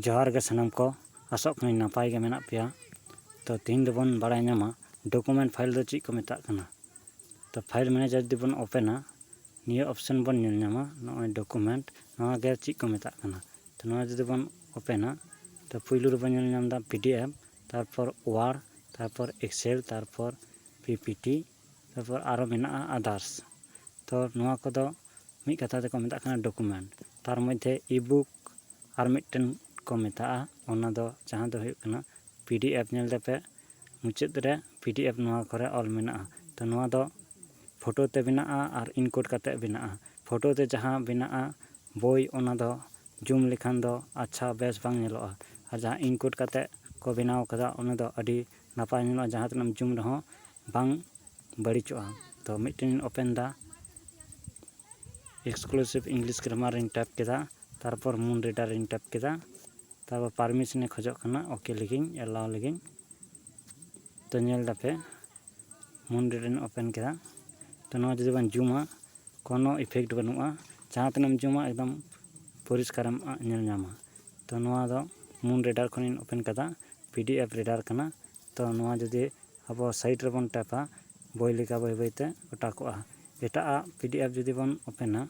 ᱡᱚᱦᱟᱨ ᱜᱮ ᱥᱟᱱᱟᱢ ᱠᱚ ᱟᱥᱚᱜ ᱠᱟᱹᱱᱟᱹᱧ ᱱᱟᱯᱟᱭ ᱜᱮ ᱢᱮᱱᱟᱜ ᱯᱮᱭᱟ ᱛᱚ ᱛᱮᱦᱮᱧ ᱫᱚᱵᱚᱱ ᱵᱟᱲᱟᱭ ᱧᱟᱢᱟ ᱰᱚᱠᱩᱢᱮᱱᱴ ᱯᱷᱟᱭᱤᱞ ᱫᱚ ᱪᱮᱫ ᱠᱚ ᱢᱮᱛᱟᱜ ᱠᱟᱱᱟ ᱛᱚ ᱯᱷᱟᱭᱤᱞ ᱢᱮᱱᱮᱡᱟᱨ ᱡᱩᱫᱤ ᱵᱚᱱ ᱳᱯᱮᱱᱟ ᱱᱤᱭᱟᱹ ᱚᱯᱥᱮᱱ ᱵᱚᱱ ᱧᱮᱞ ᱧᱟᱢᱟ ᱱᱚᱜᱼᱚᱭ ᱰᱚᱠᱩᱢᱮᱱᱴ ᱱᱚᱣᱟ ᱜᱮ ᱪᱮᱫ ᱠᱚ ᱢᱮᱛᱟᱜ ᱠᱟᱱᱟ ᱛᱚ ᱱᱚᱣᱟ ᱡᱩᱫᱤ ᱵᱚᱱ ᱳᱯᱮᱱᱟ ᱛᱚ ᱯᱩᱭᱞᱩ ᱨᱮᱵᱚᱱ ᱧᱮᱞ ᱧᱟᱢ ᱮᱫᱟ ᱯᱤ ᱰᱤ ᱮᱯᱷ ᱛᱟᱨᱯᱚᱨ ᱳᱣᱟᱨ ᱛᱟᱨᱯᱚᱨ ᱮᱠᱥᱮᱞ ᱛᱟᱨᱯᱚᱨ ᱯᱤ ᱯᱤ ᱴᱤ ᱛᱟᱨᱯᱚᱨ ᱟᱨᱚ ᱢᱮᱱᱟᱜᱼᱟ ᱟᱫᱟᱨᱥ ᱛᱚ ᱱᱚᱣᱟ ᱠᱚᱫᱚ ᱢᱤᱫ ᱠᱟᱛᱷᱟ ᱛᱮᱠᱚ ᱢᱮᱛᱟᱜ ᱠᱟᱱᱟ ᱰᱚᱠᱩᱢᱮᱱᱴ ᱛᱟᱨ ᱢᱚᱫᱽᱫᱷᱮ ᱤ ᱵᱩᱠ ᱟᱨ ᱢᱤᱫᱴᱮᱱ ᱠᱚ ᱢᱮᱛᱟᱜᱼᱟ ᱚᱱᱟ ᱫᱚ ᱡᱟᱦᱟᱸ ᱫᱚ ᱦᱩᱭᱩᱜ ᱠᱟᱱᱟ ᱯᱤ ᱰᱤ ᱮᱯᱷ ᱧᱮᱞ ᱛᱮᱯᱮ ᱢᱩᱪᱟᱹᱫ ᱨᱮ ᱯᱤ ᱰᱤ ᱮᱯᱷ ᱱᱚᱣᱟ ᱠᱚᱨᱮ ᱚᱞ ᱢᱮᱱᱟᱜᱼᱟ ᱛᱚ ᱱᱚᱣᱟ ᱫᱚ ᱯᱷᱳᱴᱳ ᱛᱮ ᱵᱮᱱᱟᱜᱼᱟ ᱟᱨ ᱤᱱᱠᱳᱰ ᱠᱟᱛᱮᱫ ᱵᱮᱱᱟᱜᱼᱟ ᱯᱷᱳᱴᱳ ᱛᱮ ᱡᱟᱦᱟᱸ ᱵᱮᱱᱟᱜᱼᱟ ᱵᱳᱭ ᱚᱱᱟ ᱫᱚ ᱡᱩᱢ ᱞᱮᱠᱷᱟᱱ ᱫᱚ ᱟᱪᱪᱷᱟ ᱵᱮᱥ ᱵᱟᱝ ᱧᱮᱞᱚᱜᱼᱟ ᱟᱨ ᱡᱟᱦᱟᱸ ᱤᱱᱠᱳᱰ ᱠᱟᱛᱮᱫ ᱠᱚ ᱵᱮᱱᱟᱣ ᱠᱟᱫᱟ ᱚᱱᱟ ᱫᱚ ᱟᱹᱰᱤ ᱱᱟᱯᱟᱭ ᱧᱮᱞᱚᱜᱼᱟ ᱡᱟᱦᱟᱸ ᱛᱤᱱᱟᱹᱜ ᱮᱢ ᱡᱩᱢ ᱨᱮᱦᱚᱸ ᱵᱟᱝ ᱵᱟᱹᱲᱤᱡᱚᱜᱼᱟ ᱛᱚ ᱢᱤᱫᱴᱮᱱ ᱤᱧ ᱳᱯᱮᱱ ᱮᱫᱟ ᱮᱠᱥᱠᱞᱩᱥᱤᱵᱷ ᱤᱝᱞᱤᱥ ᱜᱨᱟᱢᱟᱨ ᱤᱧ ᱴᱟᱭᱤᱯ ᱠᱮᱫᱟ ᱛᱟᱨᱯᱚᱨ ᱢᱩᱱ ᱨᱤᱰᱟᱨ ᱤᱧ ᱴᱟᱭᱤᱯ ᱠᱮᱫᱟ ᱛᱟᱨᱯᱚᱨ ᱯᱟᱨᱢᱤᱥᱚᱱᱮ ᱠᱷᱚᱡᱚᱜ ᱠᱟᱱᱟ ᱳᱠᱮ ᱞᱮᱜᱤᱧ ᱮᱞᱟᱣ ᱞᱮᱜᱤᱧ ᱛᱚ ᱧᱮᱞ ᱮᱫᱟᱯᱮ ᱢᱩᱱ ᱨᱤᱰᱟᱨ ᱤᱧ ᱳᱯᱮᱱ ᱠᱮᱫᱟ ᱛᱚ ᱱᱚᱣᱟ ᱡᱩᱫᱤ ᱵᱚᱱ ᱡᱩᱢᱟ ᱠᱳᱱᱳ ᱤᱯᱷᱮᱠᱴ ᱵᱟᱹᱱᱩᱜᱼᱟ ᱡᱟᱦᱟᱸ ᱛᱤᱱᱟᱹᱜ ᱮᱢ ᱡᱩᱢᱟ ᱮᱠᱫᱚᱢ ᱯᱚᱨᱤᱥᱠᱟᱨᱮᱢ ᱧᱮᱞ ᱧᱟᱢᱟ ᱛᱚ ᱱᱚᱣᱟ ᱫᱚ ᱢᱩᱱ ᱨᱤᱰᱟᱨ ᱠᱷᱚᱱᱤᱧ ᱳᱯᱮᱱ ᱠᱟᱫᱟ ᱯᱤ ᱰᱤ ᱮᱯᱷ ᱨᱤᱰᱟᱨ ᱠᱟᱱᱟ ᱛᱚ ᱱᱚᱣᱟ ᱡᱩᱫᱤ ᱟᱵᱚ ᱥᱟᱭᱤᱰ ᱨᱮᱵᱚᱱ ᱴᱮᱯᱟ ᱵᱳᱭ ᱞᱮᱠᱟ ᱵᱟᱹᱭ ᱵᱟᱹᱭ ᱛᱮ ᱚᱴᱟ ᱠᱚᱜᱼᱟ ᱮᱴᱟᱜ ᱟᱜ ᱯᱤ ᱰᱤ ᱮᱯᱷ ᱡᱩᱫᱤ ᱵᱚᱱ ᱳᱯᱮᱱᱟ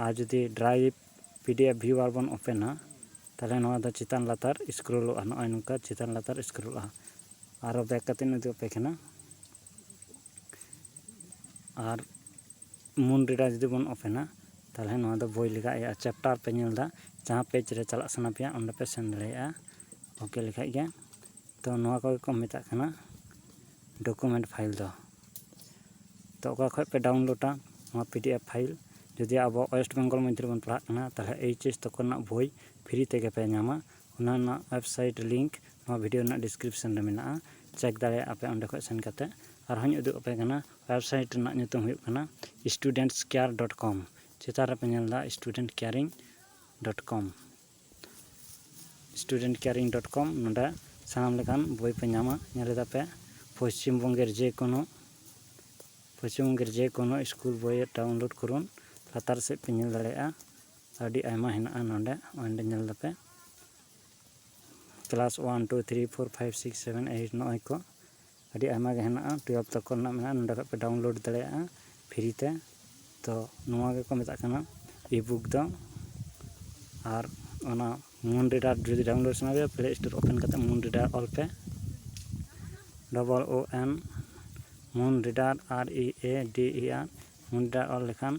ᱟᱨ ᱡᱩᱫᱤ drive P D F viewer ᱵᱚᱱ ᱳᱯᱮᱱᱟ ᱛᱟᱦᱚᱞᱮ ᱱᱚᱣᱟ ᱫᱚ ᱪᱮᱛᱟᱱ ᱞᱟᱛᱟᱨ ᱥᱠᱨᱳᱞᱚᱜᱼᱟ ᱱᱚᱜᱼᱚᱭ ᱱᱚᱝᱠᱟ ᱪᱮᱛᱟᱱ ᱞᱟᱛᱟᱨ ᱥᱠᱨᱳᱞᱚᱜᱼᱟ ᱟᱨᱚ ᱵᱮᱠ ᱠᱟᱛᱮᱧ ᱩᱫᱩᱜ ᱟᱯᱮ ᱠᱟᱱᱟ ᱟᱨ ᱢᱩᱱ ᱨᱤᱰᱟᱨ ᱡᱩᱫᱤ ᱵᱚᱱ ᱳᱯᱮᱱᱟ ᱛᱟᱦᱚᱞᱮ ᱱᱚᱣᱟ ᱫᱚ ᱵᱳᱭ ᱞᱮᱠᱟ ᱤᱭᱟᱹᱜᱼᱟ ᱪᱮᱯᱴᱟᱨ ᱯᱮ ᱧᱮᱞ ᱮᱫᱟ ᱡᱟᱦᱟᱸ ᱯᱮᱡᱽ ᱨᱮ ᱪᱟᱞᱟᱜ ᱥᱟᱱᱟ ᱯᱮᱭᱟ ᱚᱸᱰᱮ ᱯᱮ ᱥᱮᱱ ᱫᱟᱲᱮᱭᱟᱜᱼᱟ ᱳᱠᱮ ᱞᱮᱠᱷᱟᱡ ᱜᱮ ᱛᱚ ᱱᱚᱣᱟ ᱠᱚᱜᱮ ᱠᱚ ᱢᱮᱛᱟᱜ ᱠᱟᱱᱟ ᱰᱚᱠᱩᱢᱮᱱᱴ ᱯᱷᱟᱭᱤᱞ ᱫᱚ ᱛᱚ ᱚᱠᱟ ᱠᱷᱚᱡ ᱯᱮ ᱰᱟᱣᱩᱱᱞᱳᱰᱟ ᱱᱚᱣᱟ ᱯᱤ ᱰᱤ ᱮᱯᱷ ᱯᱷᱟᱭᱤᱞ ᱡᱩᱫᱤ ᱟᱵᱚ ᱳᱭᱮᱥᱴ ᱵᱮᱝᱜᱚᱞ ᱢᱚᱫᱽᱫᱷᱮ ᱨᱮᱵᱚᱱ ᱯᱟᱲᱦᱟᱜ ᱠᱟᱱᱟ ᱛᱟᱦᱚᱞᱮ ᱮᱭᱤᱪ ᱮᱥ ᱛᱚᱠᱚ ᱨᱮᱱᱟᱜ ᱵᱳᱭ ᱯᱷᱨᱤ ᱛᱮᱜᱮ ᱯᱮ ᱧᱟᱢᱟ ᱚᱱᱟ ᱨᱮᱱᱟᱜ ᱳᱭᱮᱵᱽᱥᱟᱭᱤᱴ ᱞᱤᱝᱠ ᱱᱚᱣᱟ ᱵᱷᱤᱰᱤᱭᱳ ᱨᱮᱱᱟᱜ ᱰᱤᱥᱠᱨᱤᱯᱥᱚᱱ ᱨᱮ ᱢᱮᱱᱟᱜᱼᱟ ᱪᱮᱠ ᱫᱟᱲᱮᱭᱟᱜᱼᱟ ᱯᱮ ᱚᱸᱰᱮ ᱠᱷᱚᱡ ᱥᱮᱱ ᱠᱟᱛᱮ ᱟᱨᱦᱚᱸᱧ ᱩᱫᱩᱜ ᱟᱯᱮ ᱠᱟᱱᱟ ᱣᱮᱵᱽᱥᱟᱭᱤᱴ ᱨᱮᱱᱟᱜ ᱧᱩᱛᱩᱢ ᱦᱩᱭᱩᱜ ᱠᱟᱱᱟ ᱥᱴᱩᱰᱮᱱᱴᱥᱠᱮᱭᱟᱨ ᱰᱚᱴ ᱠᱚᱢ ᱪᱮᱛᱟᱱ ᱨᱮᱯᱮ ᱧᱮᱞ ᱮᱫᱟ student caring dot com student caring dot com ᱱᱚᱸᱰᱮ ᱥᱟᱱᱟᱢ ᱞᱮᱠᱟᱱ ᱵᱳᱭ ᱯᱮ ᱧᱟᱢᱟ ᱧᱮᱞ ᱮᱫᱟ ᱯᱮ ᱯᱚᱥᱪᱤᱢ ᱵᱚᱝᱜᱮᱨ ᱡᱮ ᱠᱳᱱᱳ ᱯᱚᱥᱪᱤᱢ ᱵᱚᱝᱜᱮᱨ ᱡᱮ ᱠᱳᱱᱳ ᱥᱠᱩᱞ ᱵᱳᱭ ᱰᱟᱣᱩᱱᱞᱳᱰ ᱠᱚᱨᱩᱱ ᱞᱟᱛᱟᱨ ᱥᱮᱫ ᱯᱮ ᱧᱮᱞ ᱫᱟᱲᱮᱭᱟᱜᱼᱟ ᱟᱹᱰᱤ ᱟᱭᱢᱟ ᱦᱮᱱᱟᱜᱼᱟ ᱱᱚᱸᱰᱮ ᱚᱸᱰᱮ ᱧᱮᱞ ᱮᱫᱟ ᱯᱮ class one two three four five six seven eight ᱱᱚᱜᱼᱚᱭ ᱠᱚ ᱟᱹᱰᱤ ᱟᱭᱢᱟ ᱜᱮ ᱦᱮᱱᱟᱜᱼᱟ ᱴᱩᱭᱮᱞᱵᱷ ᱛᱚᱠ ᱠᱚᱨᱮᱱᱟᱜ ᱢᱮᱱᱟᱜᱼᱟ ᱱᱚᱸᱰᱮ ᱠᱷᱚᱱ ᱯᱮ ᱰᱟᱣᱩᱱᱞᱳᱰ ᱫᱟᱲᱮᱭᱟᱜᱼᱟ ᱯᱷᱨᱤ ᱛᱮ ᱛᱚ ᱱᱚᱣᱟ ᱜᱮᱠᱚ ᱢᱮᱛᱟᱜ ᱠᱟᱱᱟ ᱤ ᱵᱩᱠ ᱫᱚ ᱟᱨ ᱚᱱᱟ ᱢᱩᱱ ᱨᱤᱰᱟᱨ ᱡᱩᱫᱤ ᱰᱟᱣᱩᱱᱞᱳᱰ ᱥᱟᱱᱟ ᱯᱮᱭᱟ ᱯᱞᱮ ᱥᱴᱳᱨ ᱳᱯᱮᱱ ᱠᱟᱛᱮᱫ ᱢᱩᱱ ᱨᱤᱰᱟᱨ ᱚᱞ ᱯᱮ double O N Moon Reader R E A D E R ᱢᱩᱱ ᱨᱤᱰᱟᱨ ᱚᱞ ᱞᱮᱠᱷᱟᱱ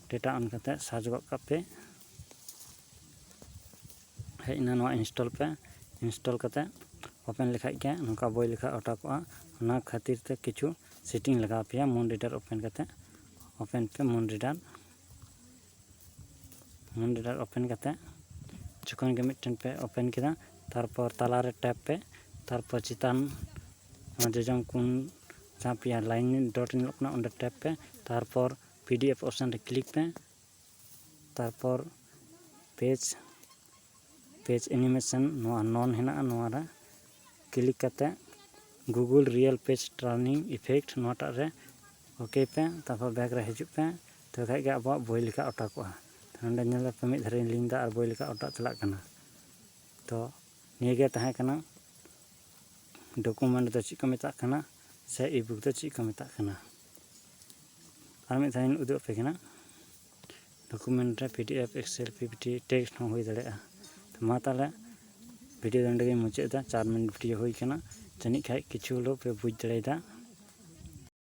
ᱰᱮᱴᱟ ᱚᱱ ᱠᱟᱛᱮᱫ ᱥᱟᱨᱪ ᱜᱚᱫ ᱠᱟᱜ ᱯᱮ ᱦᱮᱡ ᱮᱱᱟ ᱱᱚᱣᱟ ᱤᱱᱥᱴᱚᱞ ᱯᱮ ᱤᱱᱥᱴᱚᱞ ᱠᱟᱛᱮᱫ ᱳᱯᱮᱱ ᱞᱮᱠᱷᱟᱱ ᱜᱮ ᱱᱚᱝᱠᱟ ᱵᱳᱭ ᱞᱮᱠᱟ ᱚᱰᱳᱠᱚᱜᱼᱟ ᱚᱱᱟ ᱠᱷᱟᱹᱛᱤᱨ ᱛᱮ ᱠᱤᱪᱷᱩ ᱥᱮᱴᱤᱝ ᱞᱟᱜᱟᱣ ᱯᱮᱭᱟ ᱢᱩᱱ ᱨᱤᱰᱟᱨ ᱳᱯᱮᱱ ᱠᱟᱛᱮᱫ ᱳᱯᱮᱱ ᱯᱮ Moon Reader Moon Reader open ᱠᱟᱛᱮᱫ ᱡᱚᱠᱷᱚᱱ ᱜᱮ ᱢᱤᱫᱴᱮᱱ ᱯᱮ ᱳᱯᱮᱱ ᱠᱮᱫᱟ ᱛᱟᱨᱯᱚᱨ ᱛᱟᱞᱟᱨᱮ ᱴᱮᱯ ᱯᱮ ᱛᱟᱨᱯᱚᱨ ᱪᱮᱛᱟᱱ ᱡᱚᱡᱚᱢ ᱠᱚᱱ ᱡᱟᱦᱟᱸ ᱯᱮᱭᱟ ᱞᱟᱭᱤᱱ ᱰᱚᱴ ᱧᱮᱞᱚᱜ ᱠᱟᱱᱟ ᱚᱸᱰᱮ ᱴᱮᱯ ᱯᱮ ᱛᱟᱨᱯᱚᱨ ᱯᱤ ᱰᱤ ᱮᱯᱷ ᱚᱯᱥᱮᱱ ᱨᱮ ᱠᱞᱤᱠ ᱯᱮ ᱛᱟᱨᱯᱚᱨ ᱯᱮᱡᱽ ᱯᱮᱡᱽ ᱮᱱᱤᱢᱮᱥᱚᱱ ᱱᱚᱣᱟ ᱱᱚᱱ ᱦᱮᱱᱟᱜᱼᱟ ᱱᱚᱣᱟ ᱨᱮ ᱠᱞᱤᱠ ᱠᱟᱛᱮ Google real page turning effect ᱱᱚᱣᱟ ᱴᱟᱜ ᱨᱮ ᱳᱠᱮᱭ ᱯᱮ ᱛᱟᱨᱯᱚᱨ ᱵᱮᱠ ᱨᱮ ᱦᱤᱡᱩᱜ ᱯᱮ ᱛᱚᱵᱮ ᱠᱷᱟᱡ ᱜᱮ ᱟᱵᱚᱣᱟᱜ ᱵᱳᱭ ᱞᱮᱠᱟ ᱚᱴᱟᱠᱚᱜᱼᱟ ᱱᱚᱰᱮ ᱧᱮᱞ ᱯᱮ ᱢᱤᱫ ᱫᱷᱟᱨᱮᱧ ᱞᱤᱝ ᱫᱟ ᱟᱨ ᱵᱳᱭ ᱞᱮᱠᱟ ᱚᱴᱟᱜ ᱪᱟᱞᱟᱜ ᱠᱟᱱᱟ ᱛᱚ ᱱᱤᱭᱟᱹ ᱜᱮ ᱛᱟᱦᱮᱸ ᱠᱟᱱᱟ ᱰᱚᱠᱩᱢᱮᱱᱴ ᱫᱚ ᱪᱮᱫ ᱠᱚ ᱢᱮᱛᱟᱜ ᱠᱟᱱᱟ ᱥᱮ ᱤ ᱵᱩᱠ ᱫᱚ ᱪᱮᱫ ᱠᱚ ᱢᱮᱛᱟᱜ ᱠᱟᱱᱟ ᱟᱨ ᱢᱤᱫ ᱫᱷᱟᱣᱤᱧ ᱩᱫᱩᱜ ᱟᱯᱮ ᱠᱟᱱᱟ ᱰᱚᱠᱩᱢᱮᱱᱴ ᱨᱮ P D F excel P P T text ᱦᱚᱸ ᱦᱩᱭ ᱫᱟᱲᱮᱭᱟᱜᱼᱟ ᱛᱚ ᱢᱟ ᱛᱟᱦᱚᱞᱮ ᱵᱷᱤᱰᱤᱭᱳ ᱫᱚ ᱱᱚᱸᱰᱮ ᱜᱮᱧ ᱢᱩᱪᱟᱹᱫ ᱮᱫᱟ ᱪᱟᱨ ᱢᱤᱱᱤᱴ ᱵᱷᱤᱰᱤᱭᱳ ᱦᱩᱭ ᱠᱟᱱᱟ ᱡᱟᱹᱱᱤᱡ ᱠᱷᱟᱱ ᱠᱤᱪᱷᱩ ᱦᱚᱞᱮᱣ ᱯᱮ ᱵᱩᱡᱽ ᱫᱟᱲᱮᱭᱟᱫᱟ